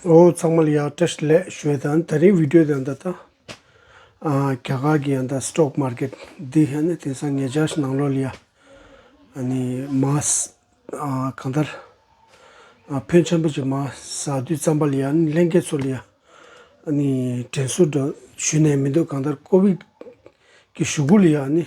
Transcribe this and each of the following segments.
ཨོ་ཚང་མ་ལ་ཡག་བཀྲ་ཤིས་ལེགས་བཤོས་དང་ད་རིང་བིདེའོ་དང་ད་དང་རྒྱ་གར་གི་ཡང་ད་སྟོག་མར་ཀེད་དེ་ཧན་ནི་དེང་སང་ངེད་ཅག་ཤི་ནང་ལོག་ལ་ཡ་ཨ་ནི་མ་གང་ལྟར་ཕོན་ཆེན་པོ་ཅིག་མ་ཟ་དུས་རྩམ་པ་ལ་ཡ་ནི་ལྷན་རྒྱས་ཚོ་ལ་ཡ་ཨ་ནི་དྲན་གསོ་འདྲ་ཞུས་ནས་མི་འདུག་གང་ལྟར་ཀོ་བིད་ཀྱི་ཞུ་སྒུག་ལ་ཡ་ཨ་ནི།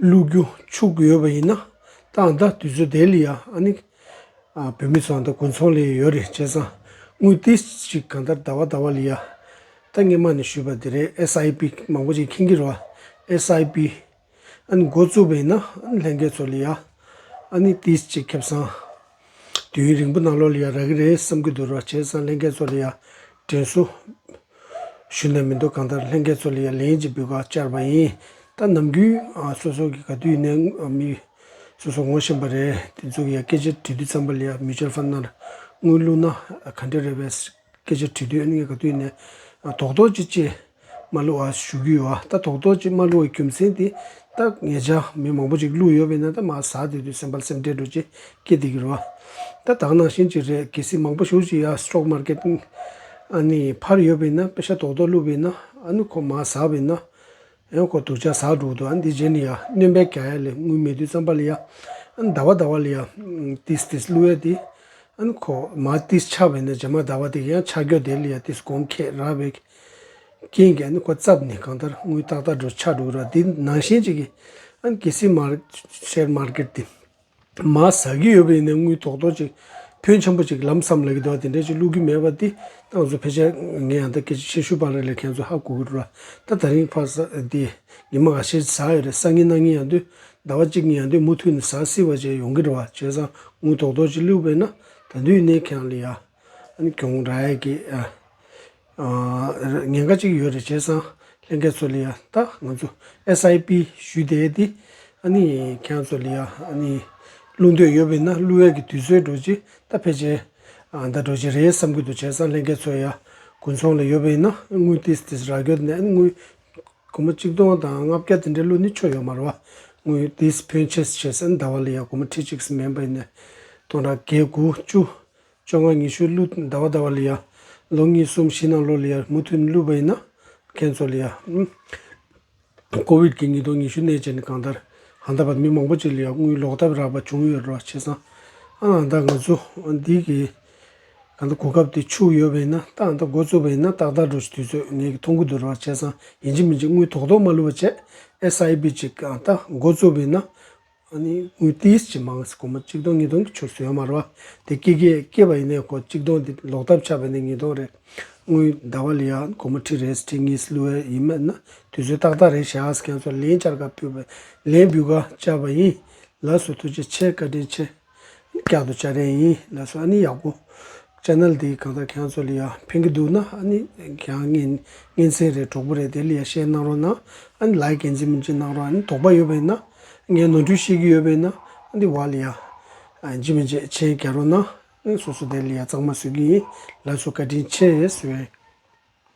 བླུག་རྒྱུ་ཆུག་གི་ཡོད་པ་ཡིན་ན་སྟངས་དང་དུས་ཚོད་དེ་ལ་ཡང་ཨ་ནི་བོད་མི་ཚོའང་དང་དགུན་ཚོང་ལས་ཡོད་རེད་བྱས་ཙང་དངུལ་དེ་ཞིག་གང་ལྟར་ད་བ་ད་བ་ལ་ཡང་ད་སྔས་མ་ནས་ཞུས་པ་དེ་རེད་ཨེ་ས་ཨེ་པི་མང་པོ་ཅིག་མཁྱེན་གྱི་རོ་ཨེ་ས་ཨེ་པི་ཨ་ནི་འགོ་བཙུགས་པ་ཡིན་ན་ཨ་ནི་ལྷན་རྒྱས་ཚོ་ལ་ཡང་ཨ་ནི་དེ་ཅིག་ཁེབས་ཙང། དུས་ཡུན་རིང་པོ་ནང་ལོགས་ལ་ཡང་རག་གི་རེད་བསམ་གི་འདུག་རོགས་བྱས་ཙང་ལྷན་རྒྱས་ཚོགས་ལ་ཡང་དྲན་གསོ་ཞུས་ན་མི་འདུག་གང་ལྟར་ལྷན་རྒྱས་ཚོགས་ལ་ཡང་ལན་གཅིག་འབུལ་བར་བཅར་བ་ཡིན་ད་ནམ་རྒྱུན་སོ་སོ་གི་ག་དུས་ཡིན་ན་མི་སོ་སོ་ངོ་ཤེས་པ་རེད་དེ་ཚོ་གི་ཡང་སྐད་ཆ་དྲི་དུས་ཙམ་པ་ལ་ཡང Mutual Fund ནང་དངུལ་བླུག་ན་ག་འདྲ་རེད་བས། སྐད་ཆ་དྲི་དོད་གནད་ཀ་བསྟུན་ནས་དོགས་དོགས་ཀྱིས་ཅི་མ་བསླུ་བ་ཞུ་རྒྱུ་ཡོད། ད་དོགས་དོགས་ཀྱིས་མ་བསླུ་བའི་རྒྱུ་མཚན་དེ་ད་ངེད་ཅག་མི་མང་པོ་ཅིག་བསླུ་ཡོད་པས་ན་ད་མ་ཟ་དེ་དུས་སེམས་པ་སེམས་ཁྲལ་འགྲོ་ཅེས་སྐད་དེ་གི་རོ། ད་དག་ནང་བཞིན་གྱི་རེད་གལ་སྲིད་མང་པོ་ཞུགས་ཅིག་ཡ Stock Market ཨ་ནི་ཕར་ཡོད་པས་ན་དཔེ་ཆ་དོགས་དོགས་བསླུ་བས་ན་ཨ་ནི་ཁོ་མ་ཟ་བས་ན་ཡང་ཁོ་དུར་བྱ་ཟག་དྲུག་ཏུའང་འདི་བྱས་ནས་ཡང་གནོན་པའི་ག་ཡ་ལས་སྔོན་མེ་དུས་བརྩམས་པ་ལ་ཡང་ཟླ་བ་ཟླ་བ་ལ་ཡང་ཏིས་ཏིས་བསླུ་བས་ཏེ། ཡང་ཁོ་མ་ཏིས་ཆགས་པས་ན་བྱེ་མ་ཟླ་བ་དེ་ཡང་ཆགས་འགྱོད་དེ་ལ་ཡང་ཏིས་གོང་ཁེས་རགས་པའི་རྐྱེན་གྱིས་ཡང་ཁོ་བརྩབས་ནས་གང་ལྟར་དངུལ་ཏག་ཏག་འགྲོ་ཆགས་འགྲོ་གི་ར་འདི་ནང་བཞིན་ཅིག་གིས་ཡང་གེ་སི་མར་ཤེར་མར་ཀེར་ཏེ། མ་ཟ་གི་ཡོད་པ་ཡིན་ན་དངུལ་ཐོག་ཐོག་ཅིག་ཕོན་ཆེན་པོ་ཅིག་ལམ་སམ་ལ་གི་འདུག་དེ་འདྲ་ཅིག་བླུག་གི་མེད་པ་དེ་ཏང་ཙུའུ་ཕལ་ཆེར་ངས་ཡང་ད་སྐད་ཆ་ཆེ་ཤོས་པ་རེད་ལ་ཁྱེད་ཚོ་ཧ་གོ་གི་འགྲོ་ད་ད་རིང་ཕར་ཟ་དེ་ཉི་མ་ག་ཤེད་ཟ་ཡོད་རེད་སང་ཉིན་གནངས་ཉིན་ཡང་དུས་ཟླ་བ་གཅིག་གཉིས་ཡང་དུས་མུ་མཐུད་ནས་ཟ་སྲིད་པ་བྱས་ཡོང་གི་འདྲ་བ་བྱས་ཙང་དངུལ་ཐོག་ཐོག་ཅིག་བླུག་པས་ན་ད་དུས་ནས་ཁྱེད་རང་ལ་ཡ་ནི་གྱོང་ར་ཡ་གི་ཨ། ཉེན་ཁ་གཅིག་ཡོད་རེད་བྱས་ཙང་ལྷན་རྒྱས་ཚོ་ལ་ཡང་ལྟ་ང་ཚོ SIP ཞུས་དེ་དེ་ཨ་ནི་ཁྱེད་རང་ཚོ་ལ་ཡང་ཨ་ནི་བླུགས་འདོད་ཡོད་པས་ན་བླུགས་ཡས་ཀྱི་དུས་ཚོད་འགྲོ་ཅི་ད་ཕལ་ཆེར་ད་འགྲོ་ཅི་རེད་བསམ་གྱི་འདུག་བྱས་ཙང་ལྷན་རྒྱས་ཚོ་ཡང་དགུན་ཚོང་ལ་ཡོད་པས་ན་དངུལ་ཏིས་ཏིས་རག་གྱོད་ནས་དངུལ་གོ་མ་གཅིག་སྟོང་དང་ལྔ་བརྒྱ་དེ་འདྲ་བླུགས་ནི་ཆོ་ཡོད་མ་རེད་བ་དངུལ་ཏིས་ཕོན་ཆེ་བྱས་ཙང་ཟླ་བ་ལ་ཡང་གོ་མ་ཁྲི་གཅིག་སུ་མེད་པས་ན་སྟོང་ཕྲག་བརྒྱད་དགུ་བཅུ་བཅོ་ལྔ་ཉི་ཤུ་བླུད་ཟླ་བ་ཟླ་བ་ལི་ཡ། ལོ་གཉིས་གསུམ་བཞི་ནང་ལོ་ལི་ཡར་མུ་མཐུད་བླུད་པ་ཡིན་ན་མཁན་ཚོ་ལི་ཡ། ཀོ་བིད་ཀྱི་ཉིས་སྟོང་ཉི་ཤུ་གནས་བཅས་ནས་གང་ལྟར་ཨ་མདའ་བར་མི་མང་པོ་ཅིག་ལི་ཡ་དངུལ་ལོག་ཐབས་རག་པ་བྱུང་ཡོད་རོ་བྱས་ཙང་ཨ་ཨ་མདའ་ང་ཚོ་འདི་གི་གང་ལྟར་གོ་སྐབས་དེ་འཆུག་ཡོད་པ་ཡིན་ན་ཏག་ཨ་མདའ་འགོ་བཙུགས་པ་ཡིན་ན་ཏག་ཏག་འགྲོ་ཞིག་དུས་ཚོད་ངེད་ཀྱི་མཐོང་གི་འདུག་རོ་བྱས་ཙང་ཡིན་གཅིག་མིན་གཅིག་དངུལ་ཐོག་ཐོག་མ་བླུད་པ་བྱས་ཨེ་ས་ཨེ་བིད་ཅིག་ཨ་མདའ་འགོ་བཙུགས་པ་ཡིན་ན་ཨ་ནི་དངུལ་དེའི་ཕྱི་མང་སའི་གོང་མ་གཅིག་སྟོང་གཉིས་སྟོང་གི་ཆུ་ཟོས་མར་བ་དེ་སྐེ་སྐེ་སྐེ་བ་ཡིན་ནའི་ཁོ་གཅིག་སྟོང་དེ་ལོག་ཐབས་ཆགས་པས་ནི་གཉིས་སྟོང་རེད། དངུལ་ཟླ་བ་ལི་ཡང་གོང་མ་ཁྲི་རེད་ཁྲི་གཉིས་སུ་བསླུ་བས་ཡིན་མེད་ན་དུས་ཚོད་ཏག་ཏག་རེད་བྱས་ཨ་ཁྱེད་ཚོ་ལན་བཅར་ག་ཕུད་པས་ལན་འབུལ་ག་བཅར་བ་ཡིན། ལགས་སོ་ཐུགས་རྗེ་ཆེ་བཀའ་དྲིན་ཆེ། རྒྱག་ཏུ་བཅར་རན་ཡིན་ལགས་སོ་ཨ་ནི་ཡག་པོ། Channel དེ་གང་ལྟར་གྱང་ཚོ་ལི་ཡ་ཕན་གི་འདུག་ན་ཨ་ནི་གྱང་ངན་ངན་ཚན་རེད་གྲོགས་པོ་རེད་དེ་ལི་ཡ་ཤེར་གནང་རོགས་གནང་ཨ་ནི་ལའི་གན་ཚིག་མིན་གཅིག་གནང་རོགས་ཨ་ནི་དོགས་པ་ཡོད་པ་ཡིན་ན་ངའི་ནོར་འཁྲུལ་ཤེས་གི་ཡོད་པ་ཡིན་ན་ཨ་ནི་བ་ལི་ཡ་ཇི་མི་ཇེ་ཆེན་རྒྱག་རོགས་གནང་ཨ་ནི་སོ་སོ་དེ་ལི་ཡ་གཙང་མ་བཟོས་གི་ཡིན་ལགས་སོ་བཀའ་དྲིན་ཆེ་ཞེས།